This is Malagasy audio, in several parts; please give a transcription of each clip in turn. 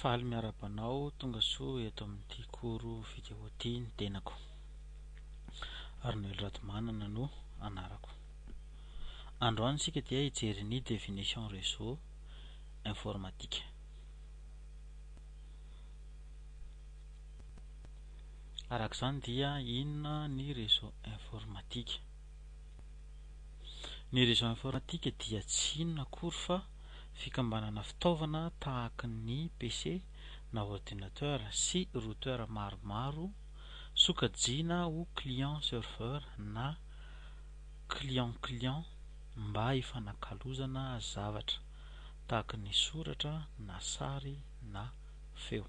Faly miarahaba anao tonga soa eto amin'ity koro video ity ny tenako Arnoel Ratomanana no anarako Androany isika dia hijery ny definition réseau informatique Araka izany dia inona ny réseau informatique Ny réseau informatique dia tsy inona akory fa fikambanana fitaovana tahaka ny PC na ordinateur sy routeur maromaro sokajiana ho client serveur na client client mba hifanakalozana zavatra tahaka ny soratra na sary na feo.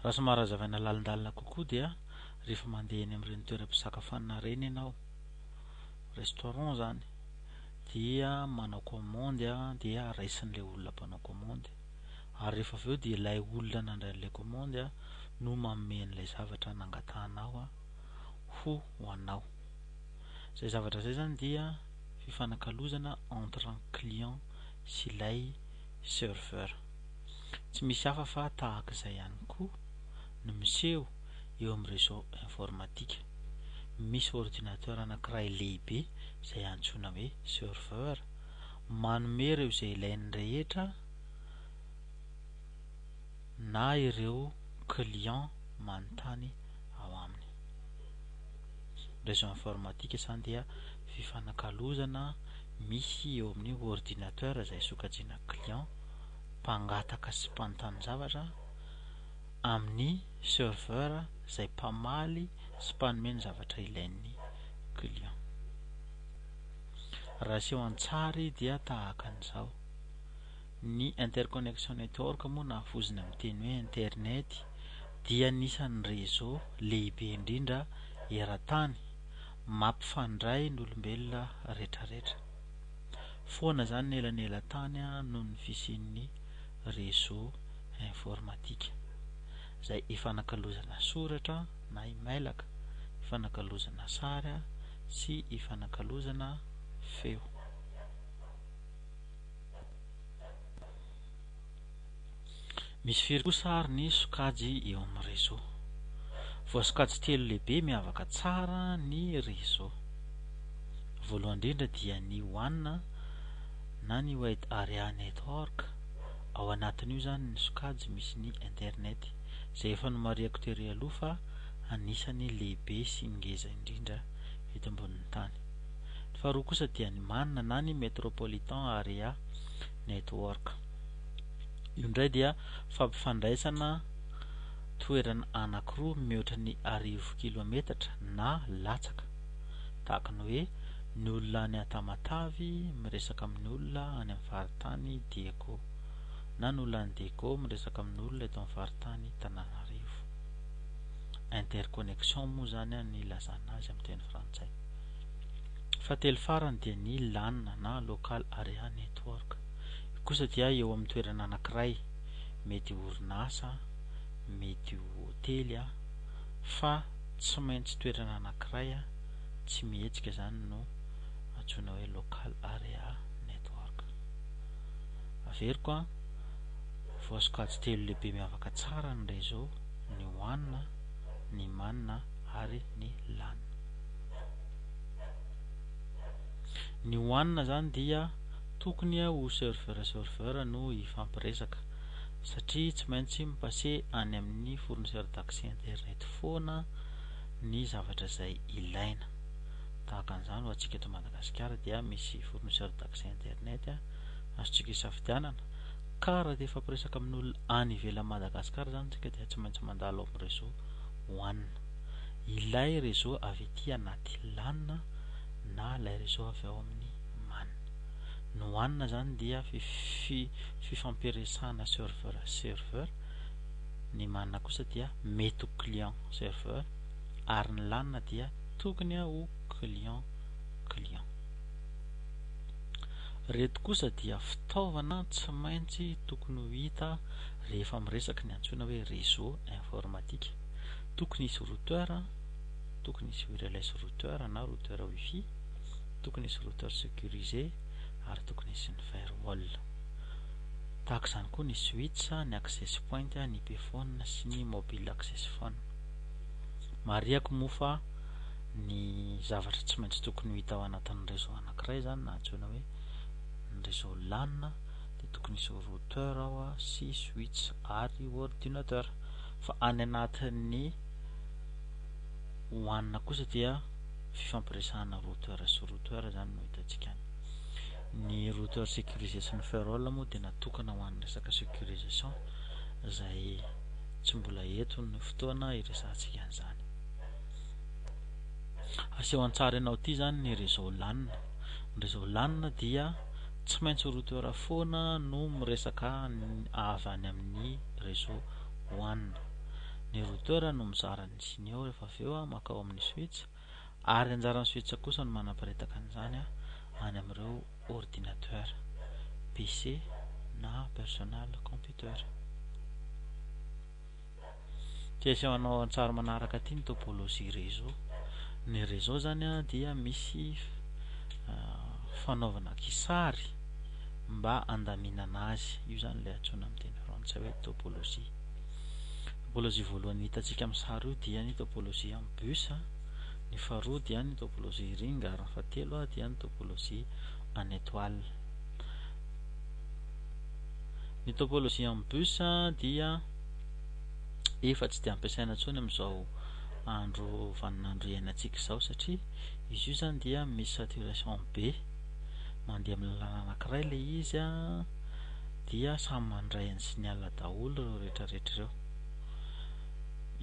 Raha somary hazavaina lalindalina kokoa dia rehefa mandeha eny amin'ireny toeram-pisakafoanana ireny ianao, restaurant izany, dia manao kaomandy dia raisin'ilay olona mpanao kaomandy, ary rehefa avy eo dia ilay olona nandray an'ilay kaomandy no manome an'ilay zavatra nangatahanao ho anao. Izay zavatra izay izany dia fifanakalozana entre ny client sy ilay serveur. Tsy misy hafa fa tahaka izay ihany koa no miseho eo amin'ny réseau informatique. Misy ordinateur anankiray lehibe izay antsoina hoe serveur manome ireo izay ilainy rehetra na ireo clients manontany ao aminy. Réseau informatique izany dia fifanakalozana misy eo amin'ny ordinateur izay sokajiana client mpangataka sy mpanontani-javatra amin'ny serveur izay mpamaly sy mpanome ny zavatra ilain'ny client. Raha aseho an-tsary dia tahaka an'izao. Ny interconnection network moa na vozona amin'ny teny hoe internet dia anisan'ny réseau lehibe indrindra eran-tany mampifandray ny olombelona rehetrarehetra. foana izany ny elanelantany noho ny fisian'ny réseau informatique izay ifanakalozana soratra na imailaka, ifanakalozana sary sy ifanakalozana feo. Misy firy kosa ary ny sokajy eo amin'ny réseau? Voasokajy telo lehibe miavaka tsara ny réseau. Voalohany indrindra dia ny wan na ny wide area network, ao anatin'io izany ny sokajy misy ny internet, izay efa nomarihako tery aloha fa anisan'ny lehibe sy ngeza indrindra eto ambonin'ny tany. Ny faharoa kosa dia ny man na ny metropolitan area, Network. Io indray dia fampifandraisana toerana anankiroa mihoatra ny arivo kilometatra na latsaka, tahaka ny hoe ny olona any Tamatave miresaka amin'ny olona any amin'ny faritany Diego, na ny olona any Diego miresaka amin'ny olona eto amin'ny faritany Tananarivo. Interconnection moa izany ny ilazana azy amin'ny teny frantsay. Fahatelo farany dia ny lan na local area network. Io kosa dia eo amin'ny toerana anankiray, mety ho orinasa, mety ho hotely a, fa tsy maintsy toerana anankiray a, tsy mihetsika izany no antsoina hoe local area network. Averiko a, voasokajy telo lehibe miavaka tsara ny réseau, ny wan, ny man ary ny lan. Ny one zany dia tokony ho serveur serveur no hifampiresaka satria tsy maintsy mi passer any amin'ny fournisseur d'accès internet foana ny zavatra izay ilaina. Tahaka an'izany ho antsika eto Madagasikara dia misy fournisseur d'accès internet azontsika isafidianana ka raha te hifampiresaka amin'olona any ivelan'i Madagasikara zany isika dia tsy maintsy mandalo amin'ny réseau one. ilay réseau avy ety anaty lan na ilay réseau avy ao amin'ny man. Ny wan izany dia fifampiresahana serveur serveur, ny man kosa dia mety ho client serveur ary ny lan dia tokony ho client client. Ireto kosa dia fitaovana tsy maintsy tokony ho hita rehefa miresaka ny antsoina hoe réseau informatique. Tokony hisy routeur, tokony hisy wireless routeur na routeur wifi, tokony hisy routeur securisé ary tokony hisy ny firewall. Tahaka izany koa ny switch, ny access point, ny payphone sy ny mobile access phone. Marihako moa fa ny zavatra tsy maintsy tokony ho hita ao anatin'ny réseau anankiray izany na antsoina hoe ny réseau LAN dia tokony hisy routeur ao sy switch ary ordinateur. Fa any anatin'ny one kosa dia fifampiresahana routeur sy routeur izany no hitantsika any. Ny routeur sécurisé sy ny firewall moa dia natokana ho an'ny resaka sécurisation izay tsy mbola eto ny fotoana hiresahantsika an'izany. Aseho an-tsary ianao ity izany ny réseau LAN. Ny réseau LAN dia tsy maintsy routeur foana no miresaka avy any amin'ny réseau hohanina. Ny routeur no mizara ny tsiny ao rehefa avy eo mankao amin'ny switch ary anjaran'ny switch kosa no manaparitaka an'izany any amin'ireo ordinateur, PC na personal computer. Dia aseho anao an-tsary manaraka aty ny topologie réseau. Ny réseau zany dia misy fanaovana kisary. mba handaminana azy. Io izany ilay antsoina amin'ny teny frantsay hoe topologie. Topologie voalohany hitantsika amin'ny sary io dia ny topologie amin'ny bus, ny faharoa dia ny topologie ring ary ny fahatelo dia ny topologie en étoile. Ny topologie amin'ny bus dia efa tsy dia ampiasaina intsony amin'izao andro vaninandro iainantsika izao satria izy io izany dia misy saturation be. mandeha amin'ny lalana anankiray ilay izy a, dia samy mandray ny signal daholo ireo rehetrarehetra ireo.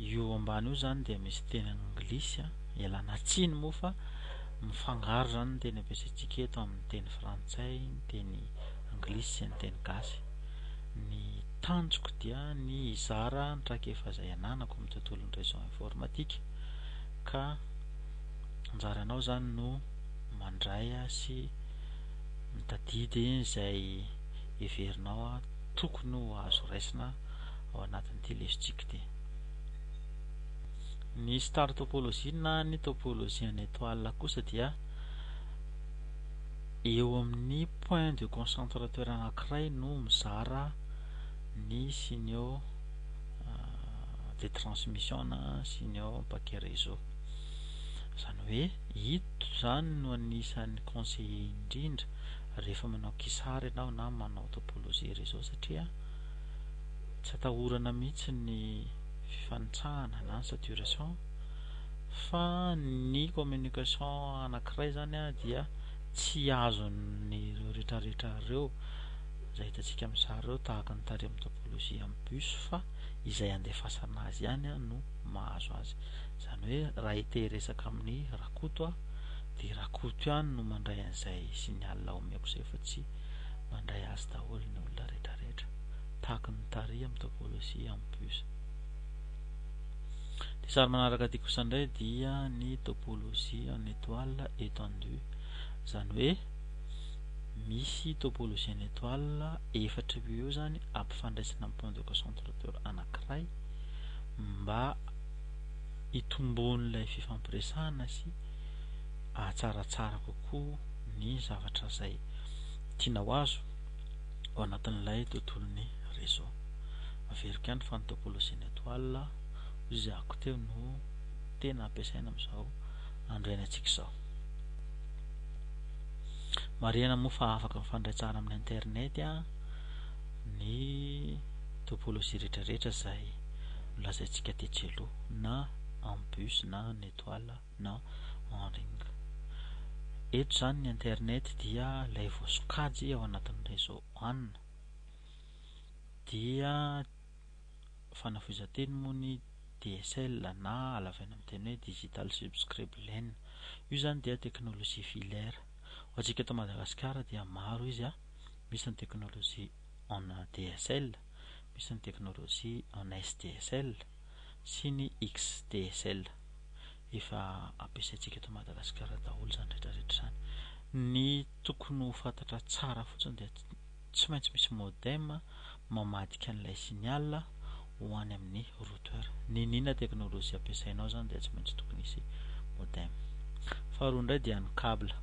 Io ambany io zany dia misy teny anglisy a, ialana tsiny moa fa mifangaro zany ny teny ampiasaintsika eto amin'ny teny frantsay, ny teny anglisy sy ny teny gasy. Ny tanjoko dia ny hizara ny traikefa izay ananako amin'ny tontolon'ny réseau informatique ka anjaranao zany no mandray sy mitadidy izay heverinao tokony ho azo raisina ao anatin'ity lesotsika ity. Ny star topology na ny topology en étoile kosa dia eo amin'ny point de concentrateur anankiray no mizara ny signaux euh, de transmission na signaux paquet réseau. Izany hoe ito izany no anisan'ny conseiller indrindra rehefa manao kisary ianao na manao topologie réseau satria tsy atahorana mihitsy ny fifanitsahana na ny saturation fa ny communication anankiray izany dia tsy azon'ireo rehetrarehetra ireo izay hitantsika amin'ny sary ireo tahaka ny tary amin'ny topologie amin'ny bus fa izay andefasana azy ihany no mahazo azy. Izany hoe raha ity hiresaka amin'ny Rakoto aho dia Rakoto ihany no mandray an'izay signal omeko izay fa tsy mandray azy daholo ny olona rehetrarehetra. Tahaka ny tary amin'ny topologie en plus. Ny sary manaraka ity kosa indray dia ny topologie en étoile étendue. Izany hoe misy topologie en étoile efatra eo eo izany ampifandraisina amin'ny point de concentrateur anankiray mba hitomboan'ilay fifampiresahana sy hahatsaratsara kokoa ny zavatra izay tiana ho azo ao anatin'ilay tontolon'ny réseau. Averiko ihany fa ny topologie ny étoile hoy izay ako teo no tena ampiasaina amin'izao andro iainantsika izao. Marihana moa fa afaka mifandray tsara amin'ny internet ny Topologie rehetra rehetra izay nolazaintsika tetsy aloha na en bus na en étoile na en ring. Eto izany ny internet dia ilay voasokajy ao anatin'ny réseau wan dia fanafohezan-teny moa ny DSL na halavaina amin'ny teny hoe digital subscribe len. Io izany dia teknolojia filaire. Ho antsika eto Madagasikara dia maro izy a! Misy ny teknolojia. en ADSL misy ny teknolojia en SDSL sy ny XDSL. Efa ampiasaintsika eto Madagasikara daholo izany rehetra rehetra izany. Ny tokony ho fantatra tsara fotsiny dia tsy maintsy misy modem mamadika an'ilay signal ho any amin'ny routeur. N'inona teknolojia ampiasainao izany dia tsy maintsy tokony hisy modem. Faharoa indray dia ny cable.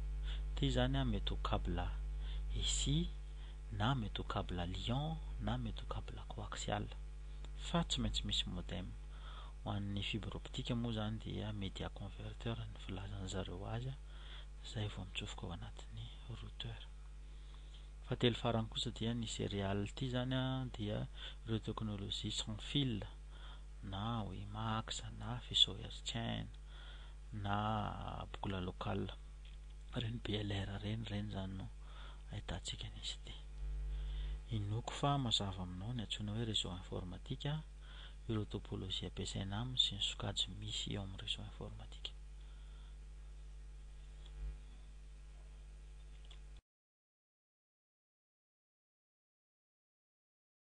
Ity izany mety ho cable ESI na mety ho cable lion na mety ho cable coaxial fa tsy maintsy misy modem. Ho an'ny fibre optique moa izany dia media converter ny filazan'ny zareo azy izay vao mitsofoka ao anatin'ny routeur. Fahatelo farany kosa dia ny serial ity izany dia ireo teknolojia sans fil na WiMAX na faisceau hertzien na boucle locale. Reny BLR reny reny zany no ahitantsika an'izy ity. Inoako fa mazava aminao ny antsoina hoe réseau informatique, ireo topologie ampiasaina aminy sy ny sokajy misy eo amin'ny réseau informatique.